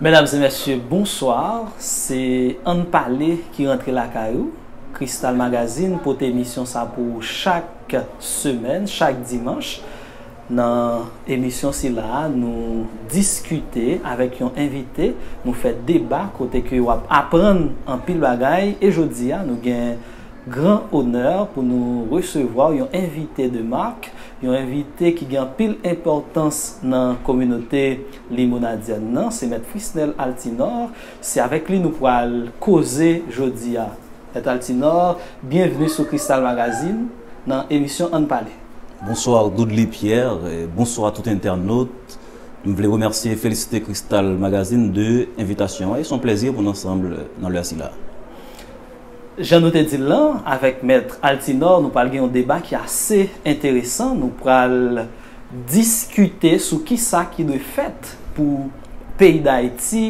Mesdames et messieurs, bonsoir. Se Ann Pale ki rantre lakay ou. Crystal Magazine pote emisyon sa pou ou chak semèn, chak dimanch. Nan emisyon sila a, nou diskite avèk yon envite, nou fè deba kote ke w ap aprann anpil bagay. E jodi a, nou gen gran onè pou nou resevwa yon envite de marque. Yon envite ki gen anpil enpòtans nan kominote Limonadyen nan se Mèt Frisnel Altinor, se avèk li nou pral koze jodi a. Mèt Altinor, byenvni sou Kristal Magazine nan emisyon Ann Pale. Bonsoir Dudley Pierre, bonsoir tout entènot. M vle remèsye e felisite Kristal Magazine de envitasyon an e s on plèzi pou n ansanm nan lè sila. Jan nou te di l lan, avèk Mèt Altinò, nou pral gen yon deba ki ase enteresan. Nou pral diskite sou ki sa ki dwe fèt pou peyi Dayiti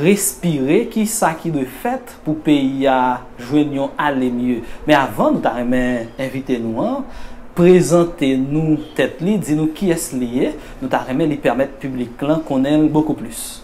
respire, ki sa ki dwe fèt pou peyi a jwenn yon ale mye. Men avan, nou ta renmen envite nou an prezante nou tèt li, di nou kiyès li ye. Nou ta renmen li pèmèt piblik lan konnen l bokou plis.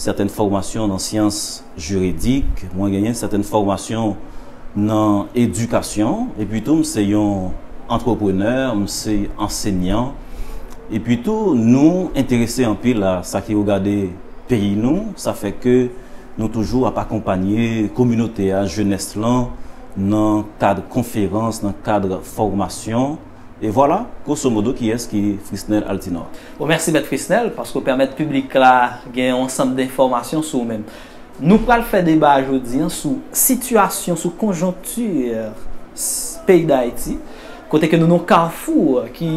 sètèn fòmasyon nan syans jiridik, mwen genyen sètèn fòmasyon nan edikasyon, epi tou m se yon antreprenè, m se ansenyan, epi tou nou enterese anpil a sa ki regade peyi nou, sa fè ke nou toujou ap akonpanye kominote a, jenès lan, nan kad konferans, nan kad fòmasyon. E vwala, grosso modo kiyès ki Frisnel Altinor. Bon mèsi mèt Frisnel paske w pèmèt piblik la gen yon ansanm denfòmasyon sou ou menm. Nou pral fè deba a jodi an sou sitiyasyon, sou konjonkti peyi Dayiti kote ke nou nan yon kafou ki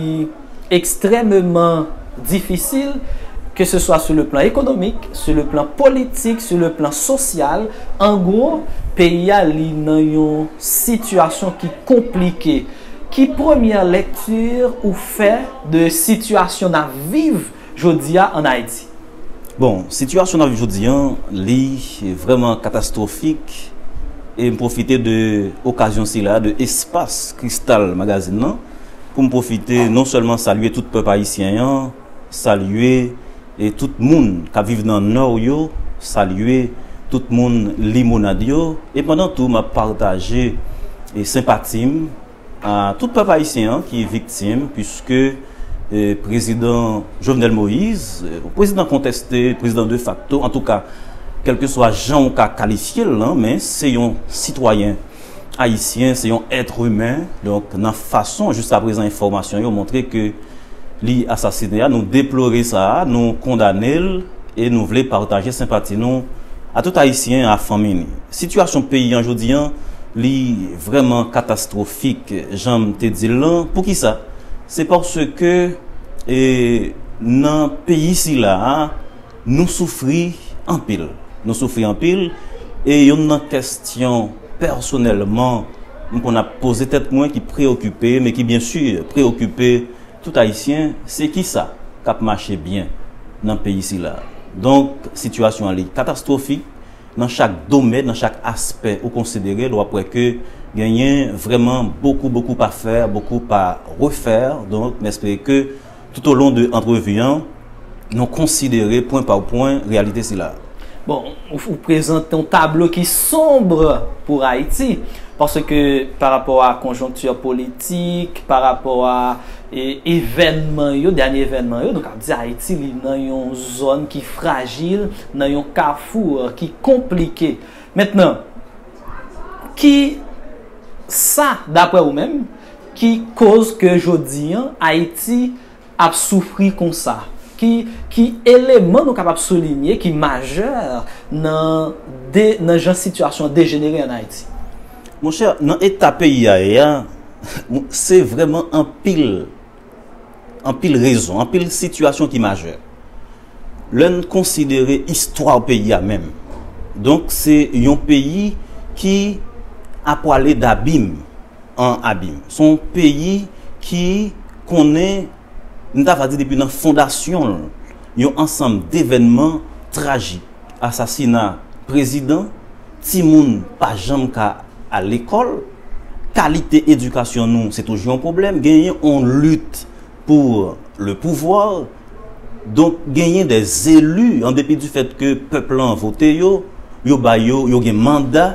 ekstrèmeman difisil ke se swa sou le plan ekonomik, sou le plan politik, sou le plan sosyal, an gwo peyi a li nan yon sitiyasyon ki konplike. Ki premyè lekti ou fè de sitiyasyon nap viv jodi a an Ayiti? Bon, sitiyasyon nap viv jodi an, li vrèman katastwofik e m pwofite de okazyon sila, de espas kristal magazin nan, pou m pwofite non sèlman salye tout pèp ayisyen an, Salye tout moun k ap viv nan Nò yo, salye tout moun Limonad yo, e pandan tou m ap pataje senpati m a tout pèp ayisyen an ki viktim puiske prezidan Jovenel Moïse, prezidan kontèste, prezidan defakto, antouka kèlkeswa jan ou ka kalifye l lan men se yon sitwayen. Ayisyen se yon èt imen, donk nan fason jiska prezan enfòmasyon yo montre ke li asasine a, nou deplore sa, nou kondane l e nou vle pataje senpati nou a tout Ayisyen a fanmi li. Sitiyasyon peyi an jodi an li vrèman katastwofik jan m te di l lan, poukisa? Se paske e nan peyi sila a. Nou soufri anpil. Nou soufri anpil e youn nan kèstyon pèsonèlman m konn ap poze tèt mwen ki preyokipe m e ki byen si preyokipe tout Ayisyen se kisa k ap mache byen nan peyi sila. Donk sitiyasyon an li katastwofik nan chak domèn, nan chak aspè ou konsidere l w ap wè ke genyen vrèman bokou bokou pa fè, bokou pa refè donk m espere ke Toutolon de antrevi an, nou konsidere pwen pa pwen reyalite sila a. Bon, ou prezante yon tablo ki sombre pou Ayiti, paske pa rapò a konjonkti politik, pa rapò a evènman yo, dènye evènman yo, nou kab di Ayiti li nan yon zòn ki frajil, nan yon kafou ki konplike. Mentnan, ki sa, dapre ou menm, Ki koz ke jodi an Ayiti ap soufri konsa? Ki eleman nou kapab soulinye ki majè nan jan sitiyasyon an dejenere an Ayiti? Monchè, nan eta peyi a ye a, se vrèman anpil. Anpil rezon, anpil sitiyasyon ki majè. Lè n konsidere istwa peyi a menm. Donk se yon peyi ki ap pwale dabim an abim. Se yon peyi ki konnen, m ta va di depi nan fondasyon l, yon ansanm devènman trajik. Asasina prezidan, timoun pa janm ka al lekòl. Kalite edikasyon nou se toujou yon pwoblèm, genyen yon lit pou le pouvoir, donk genyen de zelu an depi di fèt ke pèp lan vote yo, yo ba yo, yo gen manda,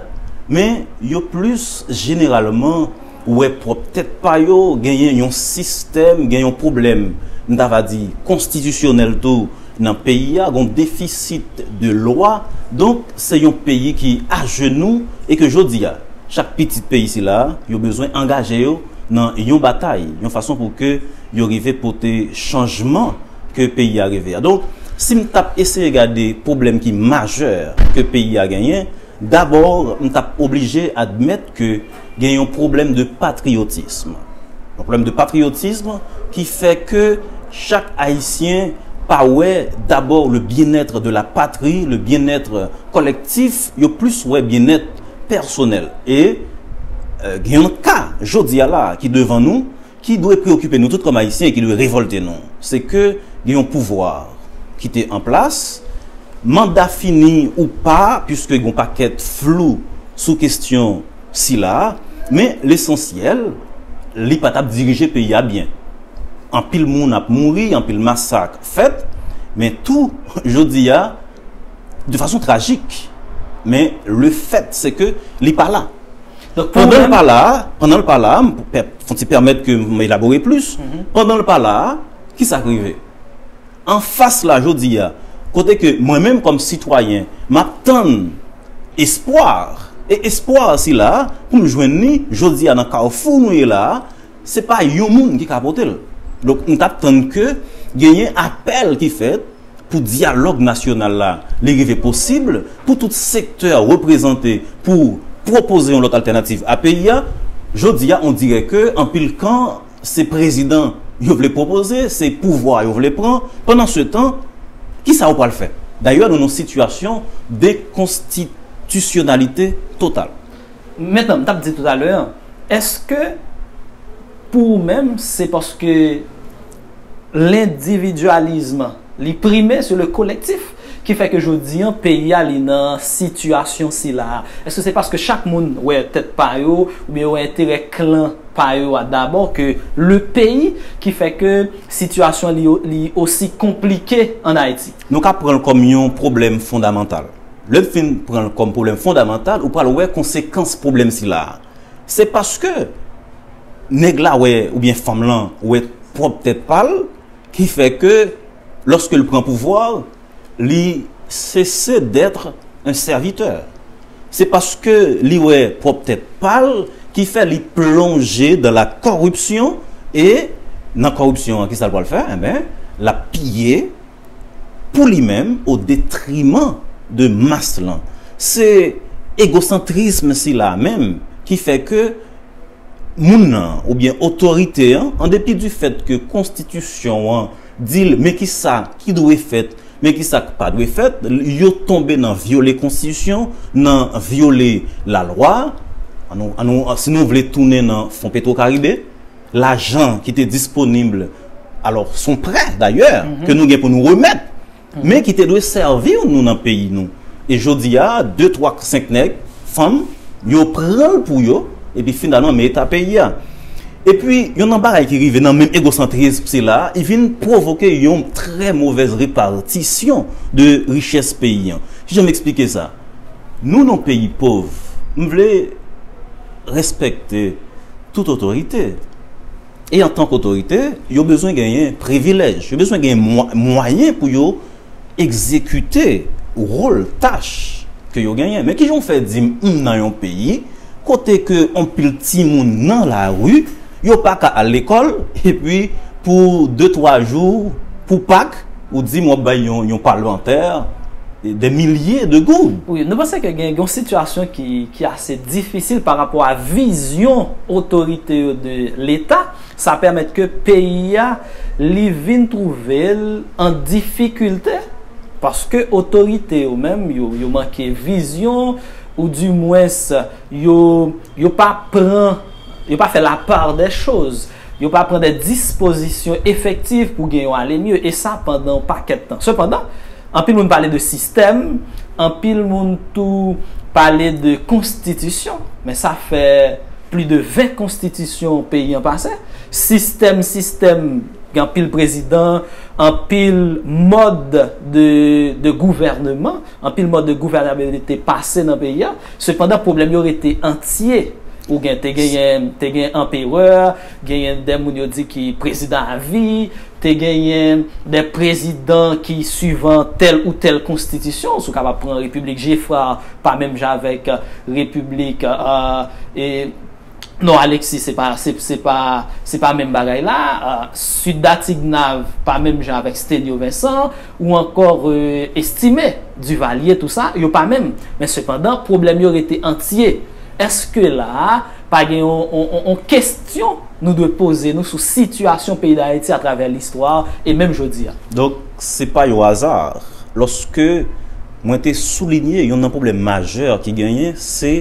men yo plis jeneralman wè pwòp tèt pa yo, genyen yon sistèm, gen yon pwoblèm, m ta va di konstitisyonèl tou. Nan peyi a gon defisit de lwa donk se yon peyi ki ajenou e ke jodi a chak pitit peyi sila a yo bezwen angaje yo nan yon batay yon fason pou ke yo rive pote chanjman ke peyi a reve a. Donk si m tap eseye gade pwoblèm ki majè ke peyi a genyen, Dabor m tap oblije admèt ke gen yon pwoblèm de patriyotism. Yon pwoblèm de patriyotism ki fè ke chak Ayisyen pa wè dabor le bien-être de la patrie, le bien-être collectif, yo plis wè bien-être pèsonèl. E gen yon ka jodi a la ki devan nou, ki dwe preokipe nou tout kòm Ayisyen e ki dwe revòlte nou, se ke gen yon pouvwa ki te an plas, manda fini ou pa, puiske gen yon pakèt flou sou kestyon sila a, men lesansyèl, li pa t ap dirije peyi a byen. Anpil moun ap mouri, anpil masak fèt, men tou, jodi a, de fason trajik, men lefèt se ke li pa la. Pandan l pa la a, pandan l pa la a, m pe, fon ti pèmèt ke m elabore plis, pandan l pa la a, ki sa k rive? An fas la jodi a, kote ke mwen menm kòm sitwayen, m ap tann espwa, e espwa sila a, pou m jwenn li jodi a nan kawfou nou ye la a, Se pa yon moun ki ka pote l. Donk m t ap tann ke genyen apèl ki fèt pou dyalòg nasyonal la li rive posib, pou tout sektè reprezante pou pwopoze yon lòt altènativ a peyi a. Jodi a on dirè ke anpil kan se prezidan yo vle pwopoze, se pouvwa yo vle pran. Pandan se tan, ki sa yo pral fè? Dayè nou nan sitiyasyon dekonstitisyonalite total. Men tanm tap di tout a lè an eske pou ou menm se paske lendividualism li prime sou le kolektif ki fè ke jodi an peyi a li nan sitiyasyon sila a eske se paske chak moun wè tèt pa yo ou byen yo wè enterè klan pa yo a dabò ke le peyi ki fè ke sitiyasyon li osi konplike an Ayiti. Nou ka pranl kòm yon pwoblèm fondamantal. Lè n fin pran l kòm pwoblèm fondamantal, ou pral wè konsekans pwoblèm sila a. Se paske nèg la wè oubyen fanm lan wè pwòp tèt pa l ki fè ke lòske l pran pouvwa, li sese d'être un serviteur. Se paske li wè pwòp tèt pa l ki fè li plonje dans la corruption e nan kòripsyon an kisa l pral fè? Enben, l ap piye. pou li menm o detriman de mas lan. Se egosantrism sila a menm ki fè ke moun nan oubyen otorite an, an depi di fèt ke konstitisyon an di l men ki sa ki dwe fèt, men ki sa k pa dwe fèt, yo tonbe nan vyole konstitisyon, nan vyole lalwa, si nou vle tounen nan fon petwokaribe. lajan ki te disponib, alò son prè dayè, ke nou gen pou nou remèt, men ki te dwe sèvi nou nan peyi nou. E jodi a, de twa k senk nèg, fanm, yo pran l pou yo, epi finalman men eta peyi a. Epi, yon nan bagay ki rive nan menm egosantrism sila a, li vin pwovoke yon trè movèz repatisyon de richès peyi an. Ki jan m esplike sa? Nou nan yon peyi pov, m vle rèspèkte. Tout otorite. E antank otorite, yo bezwen genyen privilèj, yo bezwen genyen mwayen pou yo egzekite wòl, tach ke yo genyen. Men kijan w fè di m m nan yon peyi kote ke yon pil timoun nan lari, yo pa ka al lekòl, epi pou de twa jou, pou Pak, Ou di m wap bay yon palmantè dè milye de goud. Wi, nou panse ke gen yon sitiyasyon ki ase difisil pa rapò a vizyon otorite yo de leta, sa pèmèt ke peyi a li vin twouve l an difikilte paske otorite yo menm yo manke vizyon ou di mwens yo pa pran, yo pa fè la part des choses. Yo pa pran de dispozisyon efektiv pou gen yon ale mye, e sa pandan yon pakèt tan. Sepandan, anpil moun pale de sistèm, anpil moun tou pale de konstitisyon, men sa fè pli de 20 konstitisyon peyi an pase, sistèm, sistèm, gen anpil prezidan, anpil mòd de gouvèneman. Anpil mòd de gouvènabilite pase nan peyi a, sepandan pwoblèm yo rete antye. Ou gen, te genyen, te gen anperè, genyen dè moun yo di ki prezidan a vi, te genyen dè prezidan ki suivan tèl ou tèl konstitisyon, si w kapab pran repiblik Geffrard pa menm jan avèk repiblik, e. Non Alexis se pa se pa se pa menm bagay la Sweet Da Tignav pa menm jan avèk Stenio Vincent ou ankò Estimé Duvalier tou sa yo pa menm men sepandan pwoblèm yo rete antye èske la a pa gen yon yon kestyon nou dwe poze nou sou sitiyasyon peyi Dayiti atravè listwa e menm jodi a. Donk se pa yon aza lòske mwen te soulinye youn nan pwoblèm majè ki genyen se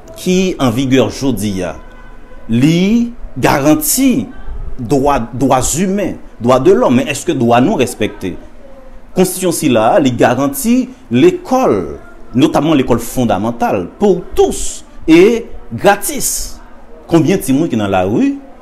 ki an vigè jodi a, li garanti dwa dwa zimen, dwa de lòm, men èske dwa nou respekte? Konstitisyon sila a, li garanti lekòl, notamman lekòl fondamantal, pou tous e gratis. Konbyen timoun ki nan lari?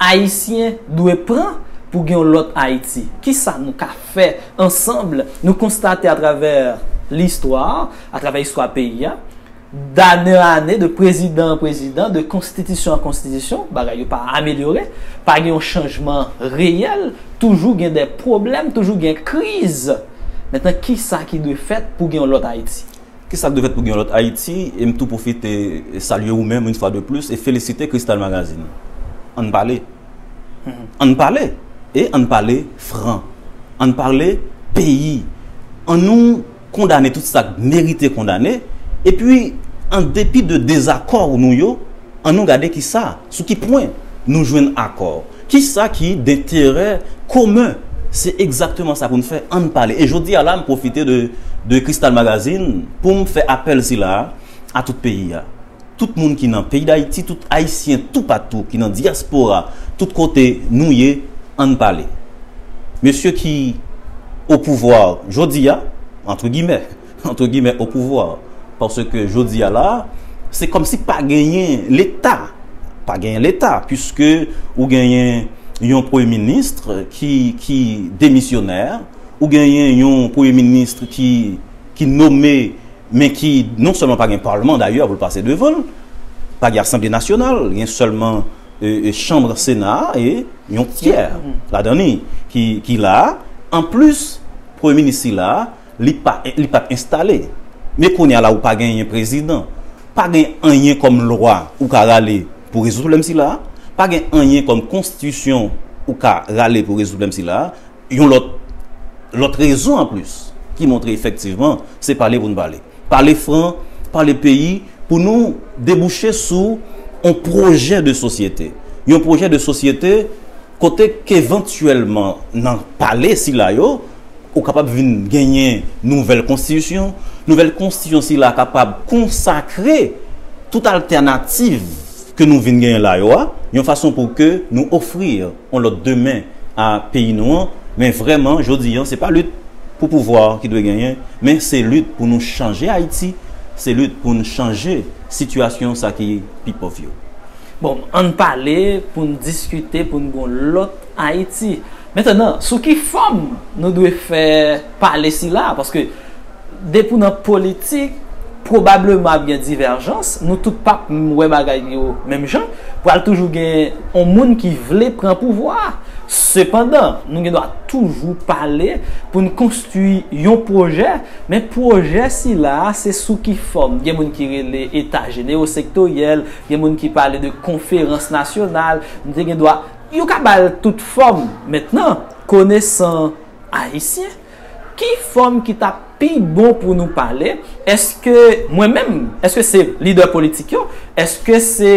Ayisyen dwe pran pou gen yon lòt Ayiti. Ki sa nou ka fè ansanm? Nou konstate atravè listwa, atravè istwa peyi a, dane an ane, de prezidan an prezidan, de konstitisyon an konstitisyon, bagay yo pa amelyore, pa gen yon chanjman reyèl, toujou gen de pwoblèm, toujou gen kriz. Mentnan, ki sa ki dwe fèt pou gen yon lòt Ayiti? Ki sa k dwe fèt pou gen yon lòt Ayiti? E m tou pwofite salye ou menm, une fois de plus, e felisite Cristal Magazine. An n pale! An n pale! E an n pale fran! An n pale peyi! An nou kondane tout sa k merite kondane, epi an depi de dezakò nou yo, Annou gade ki sa, sou ki pwen, nou jwenn akò. Ki sa ki denterè komen? Se egzakteman sa pou n fè, an n pale. E jodi a la, m pwofite de Kristal Magazine pou m fè apèl sila a a tout peyi a. Tout moun ki nan peyi Dayiti, tout Ayisyen toupatou ki nan dyaspora, tout kote nou ye, an n pale. Mesye ki opouvwa jodi a, antre gimè, Antre gimè o pouvwa. Paske jodi a la, se kòm si pa genyen leta. Pa genyen leta, piske ou genyen yon premye ministre ki demisyonè, ou genyen yon premye ministre ki nome, men ki non sèlman pa gen palman dayè pou l pase devan l, pa gen asanble nasyonal, gen sèlman chanbre sena a e yon tyè ladan li ki la a. Anplis premye minis sila a. Li pa li pat enstale. Men kounye a la ou pa genyen prezidan. Pa gen anyen kòm lwa ou ka rale pou rezoud pwoblèm sila a. Pa gen anyen kòm konstitisyon ou ka rale pou rezoud pwoblèm sila a. Yon lòt lòt rezon anplis ki montre efektivman se pale pou nou pale. Pale fran, pale peyi pou nou debouche sou yon pwojè de sosyete. Yon pwojè de sosyete kote kevantyèlman nan pale sila yo, Ou kapab vin genyen nouvèl konstitisyon. Nouvèl konstitisyon sila kapab konsakre tout altènativ ke nou vin genyen la yo a, yon fason pou ke nou ofri yon lòt demen a peyi nou an. Men vrèman, jodi an, se pa lit pou pouvwa ki dwe genyen, men se lit pou nou chanje Ayiti, se lit pou nou chanje sitiyasyon sa ki pi pòv yo. Bon, ann pale pou n diskite pou n gen yon lòt Ayiti. Mentenan, sou ki fòm nou dwe fè pale sila a? Paske, depi ou nan politik, pwobableman ap gen divèjans, nou tout p ap wè bagay yo menm jan, pral toujou gen yon moun ki vle pran pouvwa a. Sepandan, nou gen dwa toujou pale pou n konstwi yon pwojè, men pwojè sila a se sou ki fòm? Gen moun ki rele eta jenewosektoryèl, gen moun ki pale de konferans nasyonal, nou te gen dwa. Yo ka ba l tout fòm. Mentnan, konesan Ayisyen, ki fòm ki ta pi bon pou nou pale? Eske mwen menm? Eske se lidè politik yo? Eske se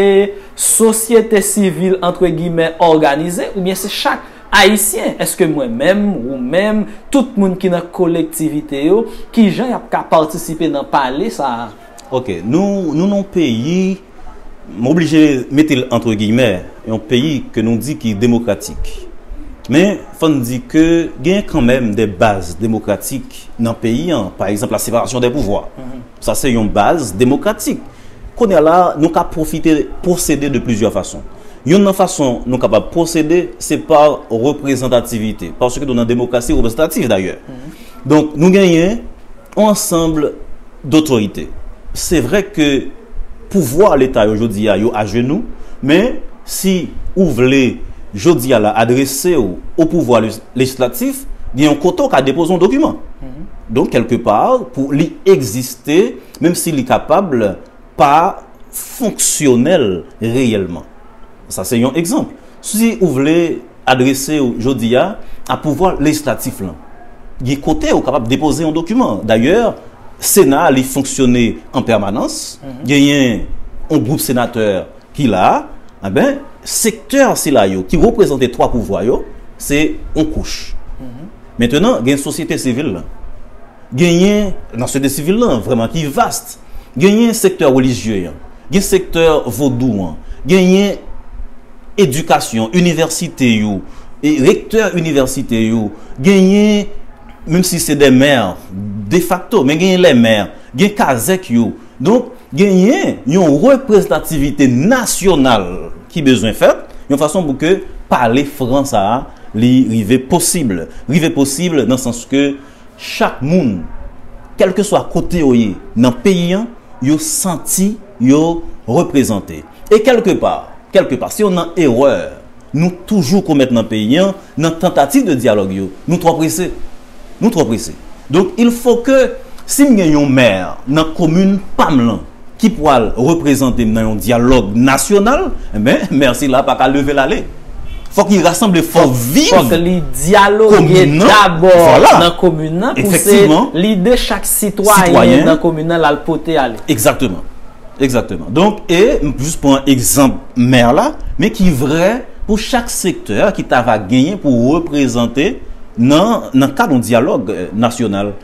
sosyete sivil antre gimè òganize? Oubyen se chak Ayisyen? Eske mwen menm, ou menm, tout moun ki nan kolektivite yo, ki jan y ap ka patisipe nan pale sa a? Ok, nou nou nan yon peyi m oblije mete l antre giyimè, yon peyi ke nou di ki demokratik. Men, fò n di ke genyen kanmenm de baz demokratik nan peyi an, pa egzanp la separasyon de pouvwa. Sa se yon baz demokratik. Kounye a la, nou ka pwofite pwosede de plizyè fason. Yonn nan fason nou kapab pwosede, se pa reprezantativite. Paske nou nan demokrasi reprezantativ dayè. Donk, nou genyen On ensemble d'autorite. Se vre ke pouvwa leta yo jodi a yo ajenou, men si ou vle jodi a la adrese w o pouvwa lejislatif, gen yon kote w ka depoze yon dokiman. Donk kelke pa pou li egziste, menm si li kapab, pa fonksyonèl reyèlman. Sa se yon egzanp. Si ou vle adrese ou jodi a a pouvwa lejislatif lan, gen kote ou kapab depoze yon dokiman. Dayè, Sena a li fonksyone an pèmanans, genyen yon gwoup senatè ki la a, enben, sektè sila yo ki reprezante twa pouvwa yo, se yon kouch. Mentenan, gen sosyete sivil lan. Genyen, nan sosyete sivil lan, vrèman ki vast. Genyen sektè relijye an, gen sektè vodou an, genyen edikasyon, inivèsite yo, rektè inivèsite yo, genyen menm si se dè mè, de fakto, men genyen lè mè, gen kazèk yo. Donk, genyen yon reprezantativite nasyonal ki bezwen fèt, yon fason pou ke pale fran sa a li rive posib. Rive posib nan sans ke Chak moun, kèlkeswa kote yo ye nan peyi an, yo santi yo reprezante. E kèlke pa, kèlke pa, se youn nan erè nou toujou komèt nan peyi an, nan tantativ de dyalòg yo, nou twò prese. Nou twò prese. Donk, il fò ke, si m gen yon mè nan komin pa m lan, ki pwal reprezante m nan yon dyalòg nasyonal, enben Mercy la paka leve l ale. Fòk li rasanble fòs viv komin nan. Fòk li dyaloge dabò nan komin nan pou se lide chak sitwayen nan komin nan l al pote ale. Egzakteman. Egzakteman. Donk e m jis pran egzanp mè la, men ki vrè pou chak sektè ki ta va genyen pou reprezante nan kad yon dyalòg nasyonal.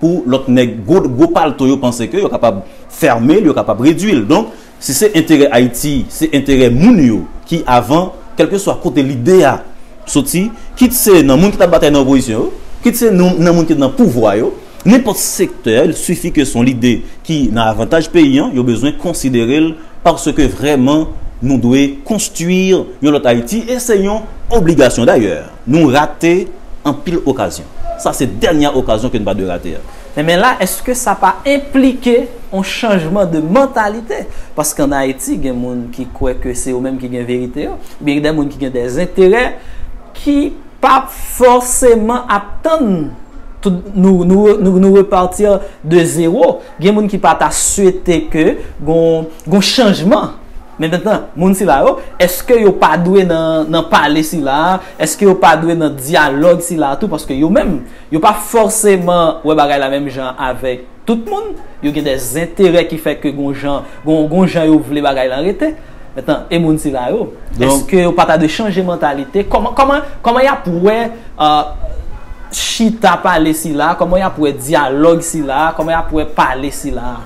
pou lòt nèg gwo gwo palto yo panse ke yo kapab fèmel yo kapab redwil donk si se enterè ayiti se enterè moun yo ki avan kèlkeswa kote lide a soti kit se nan moun ki tap batay nan opozisyon yo kit se nan moun ki nan pouvwa yo nenpòt sektè li sifi ke son lide ki nan avantaj peyi an yo bezwen konsiderel paske vrèman nou dwe konstwir yon lòt ayiti e se yon obligasyon dayè. Nou rate anpil okazyon. Sa se dènyè okazyon ke n pa dwe rate a. Enben la, èske sa pa enplike yon chanjman de mantalite? Paske an Ayiti, gen moun ki kwè ke se yo menm ki gen verite yo. Oubyen gen dè moun ki gen dè enterè ki p ap fòseman ap tann nou repartir de zero. Gen moun ki pa ta swete ke gon chanjman. Men nantan, moun sila yo, èske yo pa dwe nan pale sila a, èske yo pa dwe nan dyalòg sila a tou, paske yo menm, yo pa fòseman wè bagay la menm jan avèk tout moun, yo gen dè zenterè ki fè ke gon jan, gon jan yo vle bagay lan rete. Men nantan, e moun sila yo, èske yo pa ta dwe chanje mantalite, kòman, kòman, kòman y ap wè chita pale sila a, kòman y ap wè dyalòg sila a, kòman y ap wè pale sila a?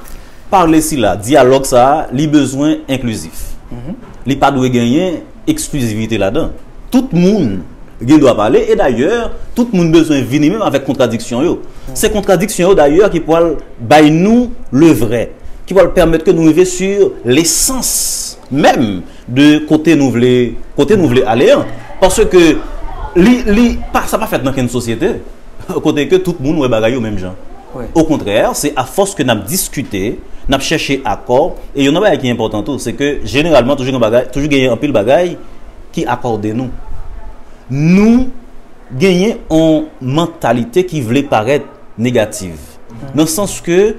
Parle sila, dyalòg sa a, li bezwen enklizif. Li pa dwe genyen eksklizivite ladan. Tout moun gen dwa pale e dayè tout moun bezwen vini menm avèk kontradiksyon yo. Se kontradiksyon yo dayè ki pwal bay nou le vrè, ki pwal pèmèt ke nou rive sur lesans menm. de kote nou vle kote nou vle ale an paske ke li li pa sa pa fèt nan kenn sosyete kote ke tout moun wè bagay yo menm jan okontrè se a fòs ke n ap diskite n ap chèche akò e yon nan bagay ki enpòtan tou se ke jeneralman toujou gen bagay toujou genyen anpil bagay ki akòde nou nou genyen yon mantalite ki vle parèt negativ nan sans ke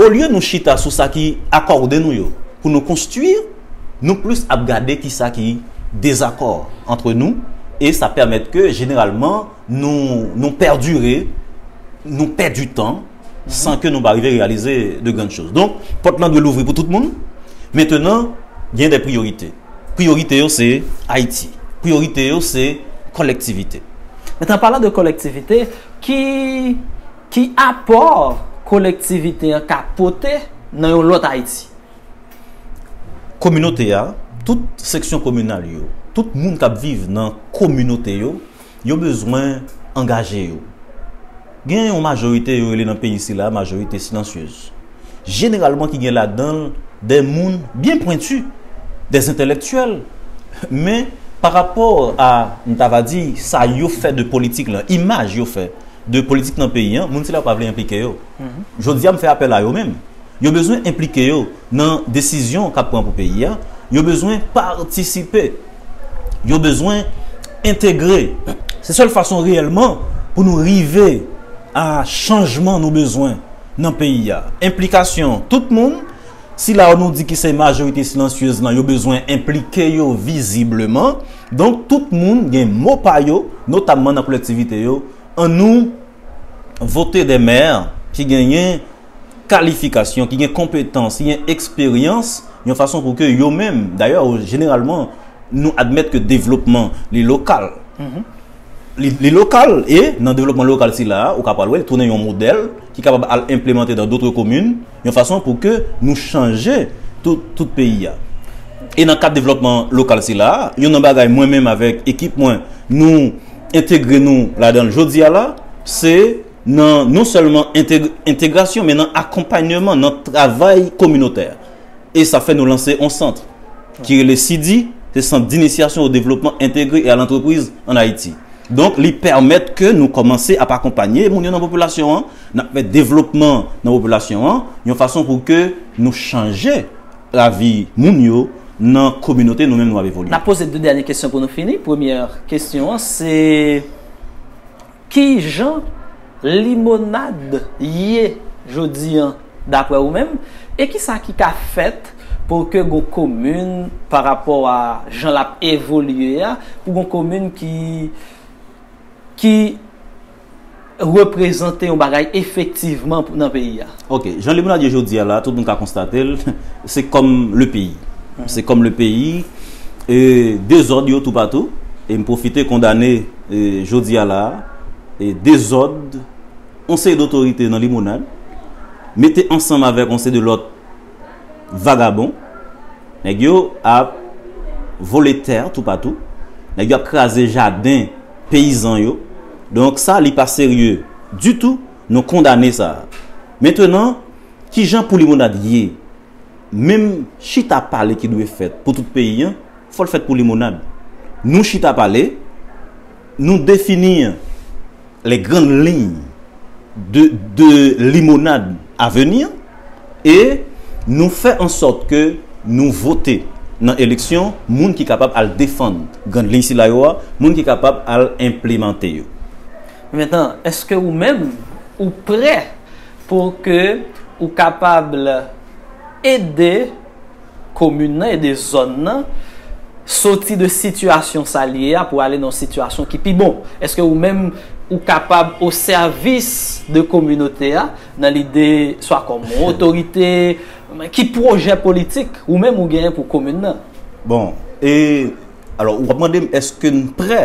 Olye nou chita sou sa ki akòde nou yo pou nou konstwi, nou plis ap gade ki sa ki dezakò antre nou e sa pèmèt ke jeneralman nou pèdire, nou pèdi tan san ke nou pa rive reyalize de grann choz. Donk, pòt lan dwe louvri pou tout moun. Mentenan, gen de priyorite. Priyorite yo se Ayiti. Priyorite yo se kòlektivite. Mentenan, anpalan de kòlektivite, ki. Ki apò kolektivite an ka pote nan yon lòt Ayiti? Kominote a, tout seksyon kominal yo, tout moun k ap viv nan kominote yo, yo bezwen angaje yo. Gen yon majorite yo rele nan peyi sila majorite silansyez. jeneralman ki gen ladan l dè moun byen pwenti, dè entèlèktyèl, men pa rapò a, m ta va di, sa yo fè de politik lan, imaj yo fè de politik nan peyi an, moun sila yo pa vle enplike yo. Jodi a m fè apèl a yo menm. Yo bezwen enplike yo nan desizyon k ap pran pou peyi a, yo bezwen patisipe, yo bezwen entegre. Se sèl fason reyèlman pou nou rive a chanjman nou bezwen. nan peyi a. Enplikasyon tout moun, sila yo nou di ki se majorite silansyez lan yo bezwen enplike yo vizibleman. Donk tout moun gen mo pa yo, notamman nan kolektivite yo. An nou vote de mè ki genyen kalifikasyon, ki gen konpetans, ki gen eksperyans yon fason pou ke yo menm. Dayè, jeneralman nou admèt ke devlopman li lokal. Li lokal e, nan devlopman lokal sila a, ou ka pral wè li tounen yon modèl ki kapab al enplemante dan dotre komin yon fason pou ke nou chanje tout peyi a. E nan kad devlòpman lokal sila a, yon nan bagay mwen menm avèk ekip mwen nou entegre nou ladan l jodi a la, se nan non sèlman entegrasyon men nan akonpanyeman nan travay kominotè. e sa fè nou lanse on sant ki rele CIDI, se sant d'initiation au développement intégré et à l'entreprise en Haïti. Donk li pèmèt ke nou kòmanse ap akonpanye moun yo nan popilasyon an, n ap fè devlopman nan popilasyon an, yon fason pou ke nou chanje lavi moun yo nan kominote nou menm nou ap evolye. N ap poze 2 dènye kesyon pou nou fini. Premyè kesyon an se. Kijan limonad ye jodi an daprè ou menm? E kisa ki ka fèt pou ke gon komin pa rapò a jan lap evolye a, pou gon komin ki ki reprezante yon bagay efektivman nan peyi a? Ok, jan le moun ap ye jodi a la, tout moun ka konstate l, se kòm le peyi. Se kòm le peyi, e dezòd yo toupatou, e m pwofite kondane jodi a la, e dezòd yon seri dotorite nan limonad, mete ansanm avèk yon seri de lòt vagabon, nèg yo ap vole tè toupatou, nèg yo ap kraze jaden peyizan yo, donk sa li pa serye ditou. Nou kondane sa. Mentenan, kijan pou limonad ye? Menm chita pale ki dwe fèt pou tout peyi an, fò l fèt pou limonad. Nou chita pale, nou defini les grandes lignes de de limonad a venir e nou fè an sòt ke nou vote nan eleksyon moun ki kapab al defann grandes lignes sila yo a, moun ki kapab al enplemante yo. Mentan, eske ou menm ou prè pou ke ou kapab ede komin nan, ede zòn nan soti de sitiyasyon sa li ye a pou ale nan yon sitiyasyon ki pi bon? Eske ou menm ou kapab o sèvis de kominote a nan lide swa kòm yon otorite, ki pwojè politik ou menm ou genyen pou komin nan? Bon, e. Alò, ou ap mande m eske n prè?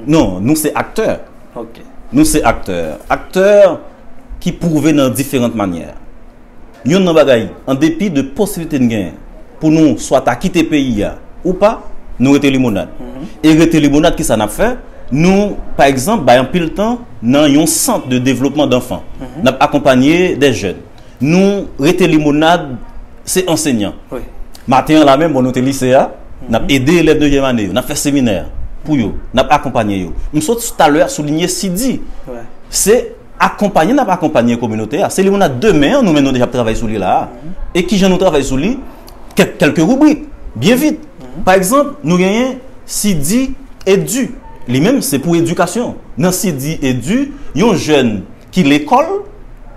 Non, nou se aktè. Ok. Nou se aktè. Aktè ki pwouve nan diferant manyè. Youn nan bagay, an depi de posiblite n genyen pou nou swa ta kite peyi a ou pa, nou rete limonad. E rete limonad ki sa n ap fè? Nou, pa egzanp, bay anpil tan nan yon sant de devlopman danfan. N ap akonpanye de jèn. Nou rete limonad se ansenyan. Maten an la menm bon nou te lise a, n ap ede elèv nevyèm ane yo, n ap fè seminè pou yo, n ap akonpanye yo. M sot talè a soulinye Sidhi. Se akonpanye n ap akonpanye kominote a. Se limonad demen an nou menm nou deja ap travay sou li la a. E ki jan nou travay sou li? Kèlke ribrik, byen vit. Pa egzanp, nou genyen Sidhi Edu. Li menm se pou edikasyon. Nan Sidhi Edu, yon jèn ki lekòl,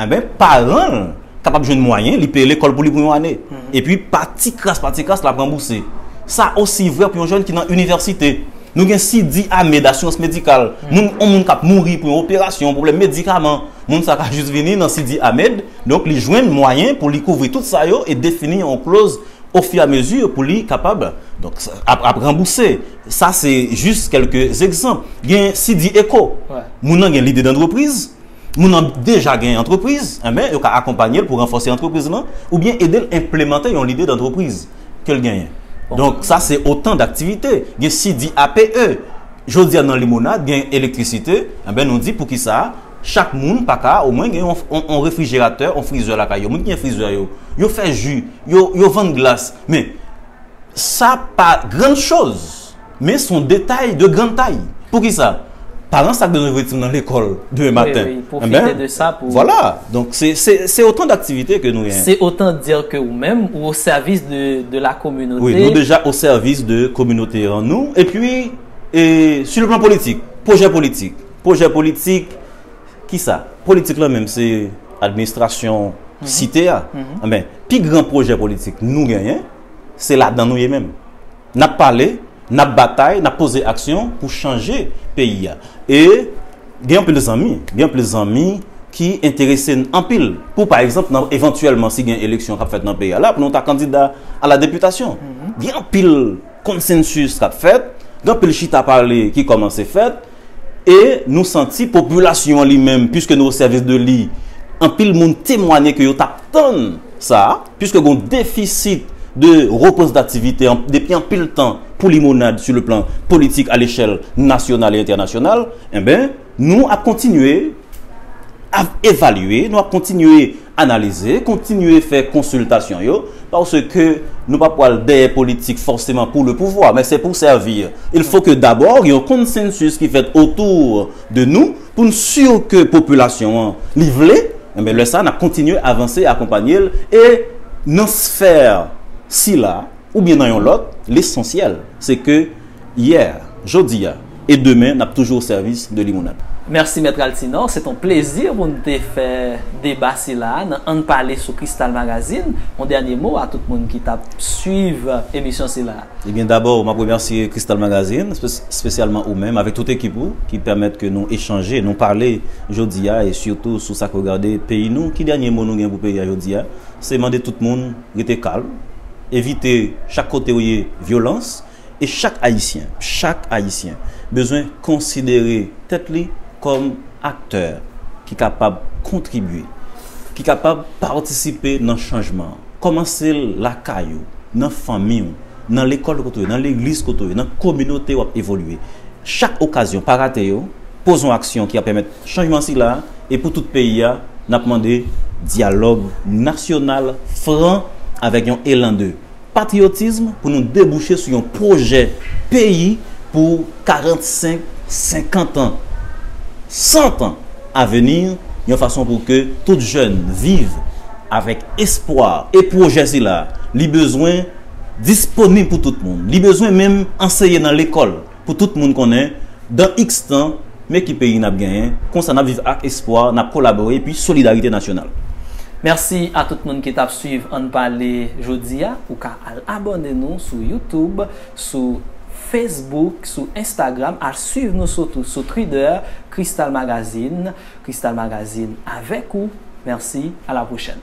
enben paran l kapab jwenn mwayen li peye lekòl pou li pou yon ane. Epi pa ti kras pa ti kras l ap ranbouse. Sa osi vrè pou yon jèn ki nan inivèsite. Nou gen Sidy Ahmed asirans medikal. Moun, yon moun k ap mouri pou yon operasyon, pwoblèm medikaman, moun sa ka jis vini nan Sidy Ahmed, donk li jwenn mwayen pou li kouvri tout sa yo e defini yon kloz ofiramezi pou li kapab, donk, ap ranbouse. Sa se jis kèlke zegzanp. Gen Sidi Eko. Moun nan gen lide dantrepriz. Moun nan deja gen antrepriz. Enben, yo ka akonpanye l pou ranfòse antrepriz lan oubyen ede l enplemante yon lide dantrepriz ke l genyen. Donk, sa se otan daktivite. Gen Sidi APE. Jodi a nan Limonad gen elektrisite. Enben, nou di poukisa chak moun pa ka omwen gen yon refrijeratè, yon frizè lakay yo. Moun ki gen frizè yo, yo fè ji, yo vann glas. Men, Sa pa grann choz, men son detay de grann tay. Poukisa? Paran sa k bezwen voye ti moun nan lekol demen maten. Wi, wi, pwofite de sa pou. Vwala, donk se otan daktivite ke nou genyen. Se otan dir ke ou menm ou o sèvis de la kominote. Wi, nou deja o sèvis de kominote an nou. E pi, e si le plan politik, pwojè politik, pwojè politik. Kisa? Politik lan menm se administrasyon site a. Enben, pi gran pwojè politik nou genyen, se ladan nou ye menm. N ap pale, n ap batay, n ap poze aksyon pou chanje peyi a. E gen anpil zanmi, gen anpil zanmi ki enterese n anpil pou pa egzanp nan evantyèlman si gen eleksyon k ap fèt nan peyi a la pou nou ta kandida a la deputasyon. Gen anpil konsensis k ap fèt, gen anpil chita pale ki kòmanse fèt E nou santi popilasyon an li menm, puiske nou osèvis de li, anpil moun temwanye ke yo t ap tann sa, puiske gen yon defisit de reprezantativite depi anpil tan pou Limonad su le plan politik alechèl nasyonal e entènasyonal, enben, nou ap kontinye. ap evalye, nou ap kontinye analize, kontinye fè konsiltasyon yo, paske nou pa pwal dèyè politik fòseman pou le pouvwa, men se pou sèvir. Il fò ke dabò gen yon konsensus ki fèt otour de nou, pou n sur ke popilasyon an li vle, enben lè sa a n ap kontinye avanse, akonpanye l, e nan sphère sila, oubyen nan yon lòt, lesansyèl se ke Yè, jodi a, e demen nap toujou o sèvis de Limonad. Mèsi Mèt Altinò, se t on plezi pou n te fè deba sila a nan Ann Pale sou Kristal Magazine. On dènye mo a tout moun ki tap swiv emisyon sila a? Ebyen dabò map remèsye Kristal Magazine, spesyalman ou menm avèk tout ekip ou ki pèmèt ke nou echanje, nou pale jodi a e sitou sou sak regade peyi nou. Ki dènye mo nou gen pou peyi a jodi a? Se mande tout moun rete kalm, evite chak kote ou ye vyolans, E chak Ayisyen, chak Ayisyen bezwen konsidere tèt li kòm aktè ki kapab kontribye, ki kapab patisipe nan chanjman an. Kòmanse l lakay ou, nan fanmi w, nan lekòl kote w ye, nan legliz kote w ye, nan kominote w ap evolye. Chak okazyon, pa rate yo, poze yon aksyon ki ap pèmèt chanjman sila a, e pou tout peyi a, n ap mande dyalòg nasyonal fran avèk yon elan de. Patriyotism pou nou debouche sou yon pwojè peyi pou 45, 50 an, 100 an aveni yon fason pou ke tout jèn viv avèk espwa e pwojè sila li bezwen disponib pou tout moun, li bezwen menm anseye nan lekòl. Pou tout moun konnen, dan iks tan, men ki peyi nap genyen, konsa nap viv ak espwa, nap kolabore epi solidarite nasyonal. Merci a tout moun ki tap swiv ann pale jodi a, ou ka al abòne nou sou youtube, sou Facebook, sou Instagram, al swiv nou sotou sou Twitter, Krystal Magazine, Krystal Magazine avèk ou, merci, a la pwochèn.